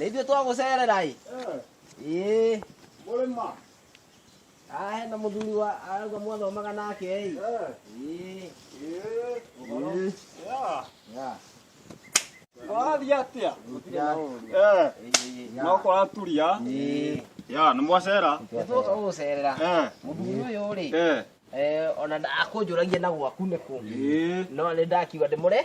nä ithuä twagå cerera ä ä Mũrĩma. Ah, hena må thuri wa arauga mwathomaga nake ä Eh. ä Eh. Mm. Yeah. Yeah. Warathiĩ atĩa? Gũtirĩ na ũũru. Eh. Ĩĩ, No kũraturia. ĩĩ. Ya, nĩ mwacera. Nĩ twoka gũgũcerera Eh. mũthuri ũyũ rĩ Eh. eh, ona akũnjũragia na gwaku nĩkũ Eh. no nĩ ndakiuga ndĩmũre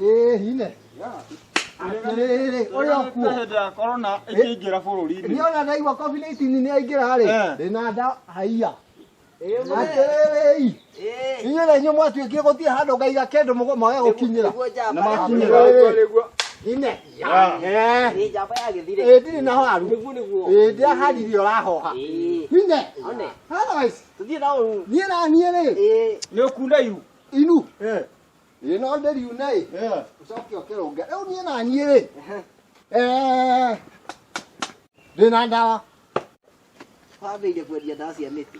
Ĩĩ, hine. Atĩrĩrĩ, ũrĩa ũkuo. hĩndĩ ya korona ĩkĩingĩra bũrũri-inĩ Niĩ ona ndaigua COVID-19 nĩ aingĩra-rĩ, Eh. ndĩna nda haiya. Atĩrĩrĩ, inyuĩ na inyuĩ mwatuĩkire gũtirĩ handũ ngaiga kĩndũ mũgo- mwage gũkinyĩra. na makinyĩra Ine. Eh, ĩĩ, ndirĩ na waru. Ĩĩ, ndiaharire ũrahoha. Ine. Otherwise, niĩ na niĩ-rĩ, nĩ ũkunda iru inu. ĩ no ndĩriune ĩ Yeah. ũcoke ũkĩrũnge rĩu niĩ naniĩ rĩ Eh, ndĩ na ndawa wambĩire kwendia ndawa cia mĩtĩ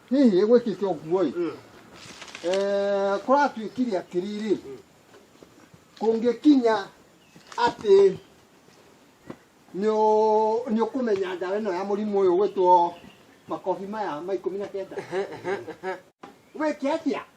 hihi ĩgwĩkĩte ũguo ĩ Mm. Eh, kũratuĩkire atĩrĩrĩ kũngĩkinya atĩ nĩũ- nĩũkũmenya ndawa ĩno ya mũrimũ ũyũ gwĩtwo makobi maya ma ikũmi na kenda wĩke atĩa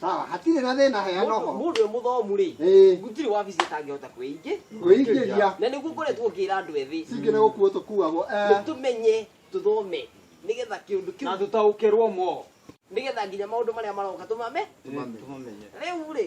sawa hatirĩ na thĩna heana Mũndũ- ũhoro mũndũ e mũthomu rĩ Ĩĩ. gũtirĩ wabici atangĩhota kwĩingĩ kwĩingĩria na nĩguo ngoretwo ngĩra andũ ethĩ cingĩ nĩ gũkuo tũkuagwo eh. nĩtũmenye tũthome nĩgetha kĩũndũ na kĩu tũtaũkĩrwo mo nĩgetha nginya maũndũ marĩa maroka tũmame tũmamenye rĩu rĩ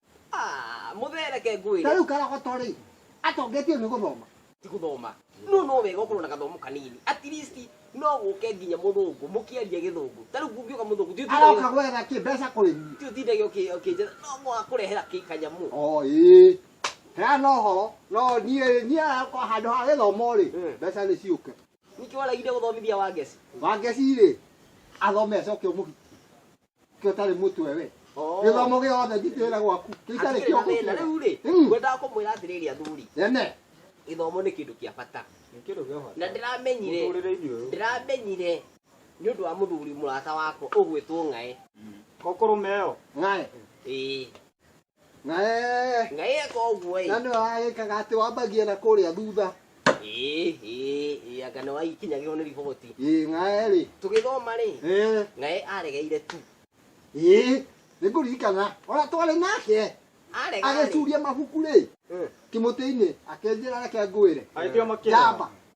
Ah, mũthereke ngwĩre Tarĩu karogoto rĩ, atongetio nĩ gũthoma. ti gũthoma no no wega ũkorwo na gathomo kanini at least no gũke nginya mũthũngũ mũkĩaria gĩthũngũ ta rĩu kũngĩũka mũthũngũ ti Aroka ũtindagia- gwetha kĩ mbeca kũrĩ niĩ. ti ũtindagia ũkĩ- ũkĩnjĩra no mũhaka kũrehera kĩ kanyamũ O ĩĩ. Heana ũhoro, no niĩ niĩ aroka handũ ha gĩthomo rĩ, Mm. mbeca nĩ ciũke. nĩkĩ waragire gũthomithia wangeci Wangeci rĩ, athome acoke ũmũhikie. kä å tarä må twe we Oh. gä thomo gä othe njitä ra gwaku kä itarä Hatirĩ kä na thĩna rĩu rĩ Mm. ngwendaga kũmwĩra atĩrĩrĩ athuri nene gĩthomo nĩ kĩndũ kĩa bata Kĩndũ gĩa bata. na ndĩramenyire Mũtũrĩre-inĩ ũyũ. ndĩramenyire nĩ ũndũ wa mũthuri mũrata wakwa ũgwĩtwo ng'aĩ Kokoro meo. ng'aä ĩĩ na eh, na eka ũguo ĩ na nĩ wagĩkaga atĩ wambagia na kũrĩa thutha ĩ ĩ ĩ anga nĩ waikinyagĩrwo nĩ riboti ĩ ng'ae rĩ tũgĩthoma rĩ Eh, naye aregeire tu ĩ nĩ ngũririkana ona twarĩ nake arega rĩ agĩcuria mabuku rĩ Mm. kĩmũtĩ-inĩ akenjĩra reke ngwĩre agĩtiga makĩra njamba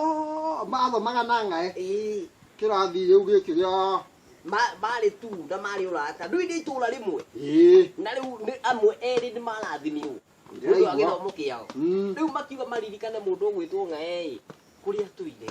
Oh, mathomaga na ng'aĩ Ĩĩ. kĩrathi rĩu gĩkĩ gĩa Ma- marĩ tu na marĩ ũrata ndũi nĩ itũra rĩmwe ĩĩ na rĩu nĩ amwe erĩ nĩ marathimirwo nĩ ũndũ wa Ndĩraigua. gĩthomo kĩao Mm. rĩu makiuga maririkane mũndũ ũgwĩtwo ng'aĩ kũrĩa tũire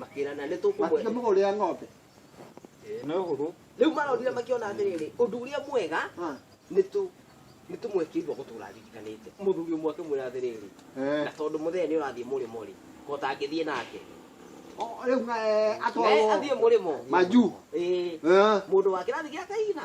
makĩrana nĩ tũkũmwe matikĩmũgũrĩra ng'ombe Ĩĩ, nĩ ũhũthũ rĩu maronire makĩona atĩrĩrĩ ũndũ ũrĩa mwega Ah, nĩ tũ nĩ tũmwĩkĩirwo gũtũra aririkanĩte mũthuri ũmwe akĩmwĩra atĩrĩrĩ eh. na tondũ mũthenya nĩ ũrathiĩ mũrĩmo rĩ kota ngĩthiĩ nake O- rĩu eh, atwarwo athiĩ mũrĩmo manju ĩĩ Eh. mũndũ wa kĩrathi gĩa kaigina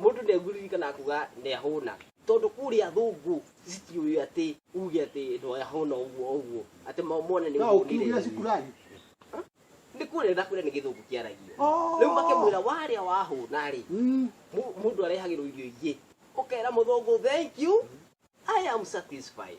Mũndũ ndegũririkana kuga nĩahũna. Tondũ kũrĩ athũngũ citiũĩ atĩ uge atĩ nĩahũna ũguo ũguo atĩ mone nĩ ũhũnire. Shukurani. Nĩ kũrĩa na kũrĩa nĩ gĩthũngũ kĩaragio. Oh. Rĩu makĩmwĩra warĩa wahũna rĩ mm. mũndũ arehagĩrwo irio ingĩ. Ũkera mũthũngũ thank you I am satisfied.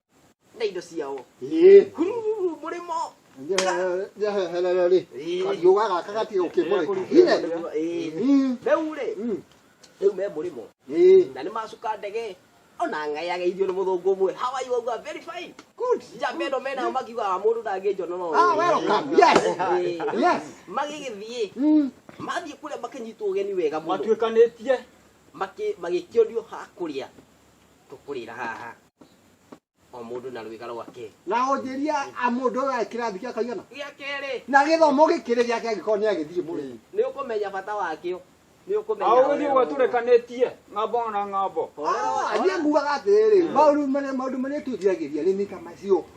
na indo ciao Ĩĩ. hurururu mũrĩmo Nja- nja heherera rĩ Ĩĩ. kariũga gaka gatiga gũkĩmũrĩka Ine. Ĩĩ. Mm, rĩu rĩ mm, rĩu me mũrĩmo ĩĩ. na nĩ macuka ndege ona ng'ayageithio nĩ mũthũngũ ũmwe hawaii wauga very fine good njamba ĩno menao makiugaga mũndũ ndangĩnjonoro Ah, welcome. Yes. Yes. magĩgĩthiĩ Mm, mathiĩ kũrĩa makĩnyitwo ũgeni wega mũno matuĩkanĩtie Makĩ- magĩkĩonio ha kũrĩa tũkũrĩra haha o må ndå na rwä ga rwake na onjĩria a mũndũ ũyũ aĩ kĩrathi gĩa kaigana gä a kerä na gĩthomo gĩkĩrĩ gĩake angĩkorwo nĩ agĩthiĩ mũrĩi nä å kå menya bata wakä o nä å kå menya Au ni watu rekanĩtie ng'ambo na ng'ambo. niĩ ngugaga atĩrĩrĩ maũndũ marĩa maũndũ marĩa tũthiragĩria nĩ mĩka macio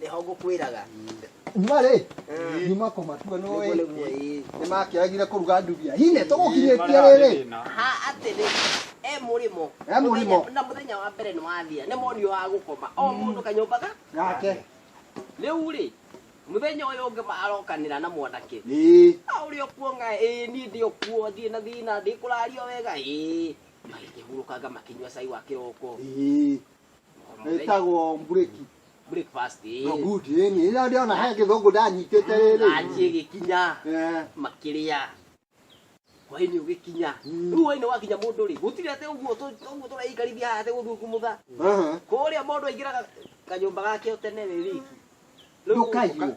nĩho ngũkwĩraga nyuma rĩ Mm. nyuma kũmatua no nĩguo ĩ nĩguo ĩĩ nĩ makĩagire kũruga ndubia hine tũgũkinyĩtie rĩrĩ ha atĩrĩ e mũrĩmo E mũrĩmo. Mũthenya- na mũthenya wa mbere nĩ wathia nĩ monio wa gũkoma o mũndũ kanyũmba ga gake rĩu rĩ mũthenya ũyũ ũngĩ marokanĩra na mwanake ĩĩ "Ah, ũrĩ o kuo nga ĩĩ niĩ ndĩ o kuo ndirĩ na thĩna ndĩ kũrario wega ĩĩ magĩkĩhurũkanga makĩnyua cai wa kĩroko ĩĩ ĩtagwo mburĩki breakfast ĩ no good ĩ niĩ rĩrĩa ndĩrona he gĩthũngũ ndanyitĩte rĩrĩ ranjĩ ĩgĩkinya Eh, makĩrĩa hwainĩ ũgĩkinya Mm. rĩu hwainĩ wakinya mũndũ rĩ gũtirĩ atĩ ũguo tũ- ũguo tũraikarithia haha atĩ gũthiĩ kumutha aha. kũrĩa mũndũ aingĩraga kanyũmba gake ũtene rĩ riki Rĩu Ndũkaiywo. ũka-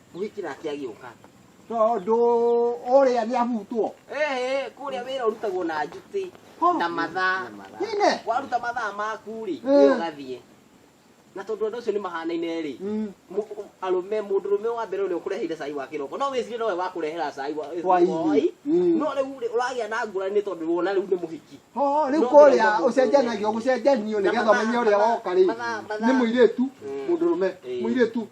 Kũhĩkĩra ake agĩũka. Tondũ ũrĩa nĩ ahutwo. Ee, kũrĩa wĩra ũrutagwo na njutĩ na mathaa. Ine. Waruta mathaa maku-rĩ, Eh. nĩ ũgathiĩ. Na tondũ andũ acio nĩ mahanaine-rĩ, Mm. mu- u- arũme mũndũrũme wa mbere ũrĩa ũkũreheire cai wa kĩroko no wĩcire nowe wakũrehera cai wa Hwainĩ. hwaĩ. Mm. no rĩu rĩ, ũragĩa na ngũrani nĩ tondũ wona rĩu nĩ mũhiki Ho, rĩu No, kũrĩa ndĩrenda mũndũ ũcenjanagio ũrĩa. gũcenjanio Na nĩgetha mathaa- ũmenye ũrĩa mathaa- woka rĩ mathaa- mathaa. nĩ mũirĩtu Mm. mũndũrũme Eh. mũirĩtu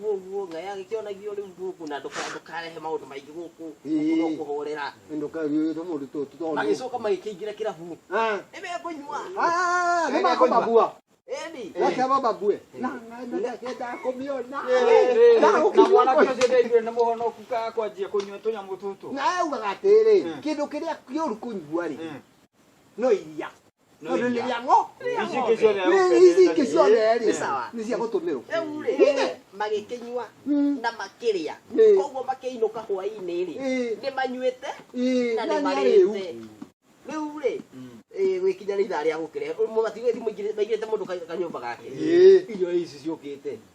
Guo guo ngai agĩkĩonagio rĩu gũkũ na ndũka- ndũkarehe maũndũ maingĩ gũkũ Ĩĩ. gũkũ no kũhorera ndũkariũĩte mũndũ tũ tũtondu magĩcoka magĩkĩingĩra kĩrabu nĩmekũnyua nĩmakũmabua eni reke mababue na ngendaa kũmĩona na mwanake ũcio ndaiguire nĩ mũhonoku ka kwanjia kũnyua tũnyamũ tũtũ na augaga atĩrĩ Mm. kĩndũ kĩrĩa kĩũru kũnyua-rĩ Mm. no iria No le ya ngo. Ici kesho ne. Ici kesho ne ri. Sawa. Ni cia gutumiro. Riu ri. Magikinyua na makiria. Koguo makiinuka hwaini ri. Ni manyuite na ni marite. Riu ri. Gwikinya ni ithaa ria gukire. Matigathi maigirite mundu kanyumba gake. Irio ici ciukite.